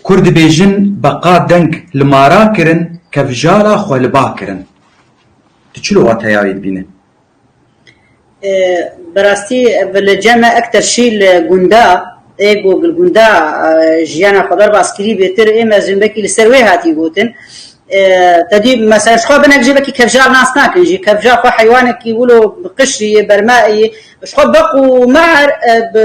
Kur dibêjin beqa deng li mara kirin kevjara xwe li ba kirin. Tu çi li wateya wê dibîne? Bi rastî bi li cem e ekter şî li gunda ê ku li gunda jiyana xwe derbas kirî bêtir ê mezin vekî li ser wê hatî gotin. Tedî mesela ji xwe binek jî vekî kevjar nas nakin jî kevjar xwe heywanekî wilo bi qişrî yê berma yê ji xwe beq û mar bi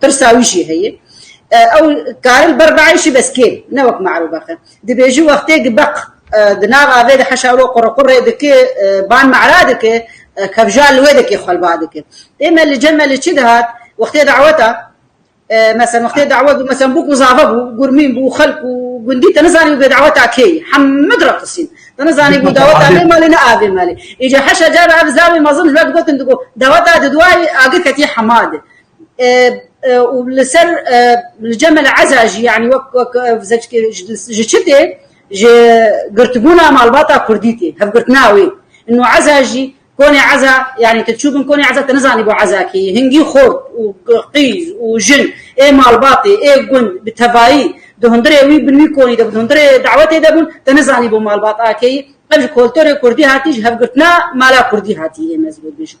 Pirsa wî jî heye. Ew karil ber biay jî bes kêm, ne wek me'rûbexe. Dibêji wextê gi beq di nav avê de heşa ro qurrequrrê dike, ban me'ra dike, kevja li wê de kê xwelba dike. Ê me li cem me li çi dihat, wextê daweta, meselen wextê dawet bû, meselen bûk û zave bû, gurmîn bû, xelk û gundî te nizanî bû bê daweta kê yî, heme direqisîn. Te nizanî bû daweta vê malê ne a vê malê. Îca heşa car ev zave mezin ji we digotin, digot, daweta di duayê agir ketiye hema de. û li ser li cemê li eza jî yanî wek wek zeckê ji çi tê ji girtibûna malbata kurdî tê hevgirtina wê û eza jî konê eza yanî tu çûbin konê eza tu nizanî bo eza kê yî hingî xort û qîz û jin ê malbatê ê gund bi tevayî di hundirê wî bin wî konî de bûn di hundirê dawetê de bûn tu nizanî bo malbat a kê yî ev ji koltorê kurdî hatî ji hevgirtina mala kurdî hatî ê ez vê bêjim.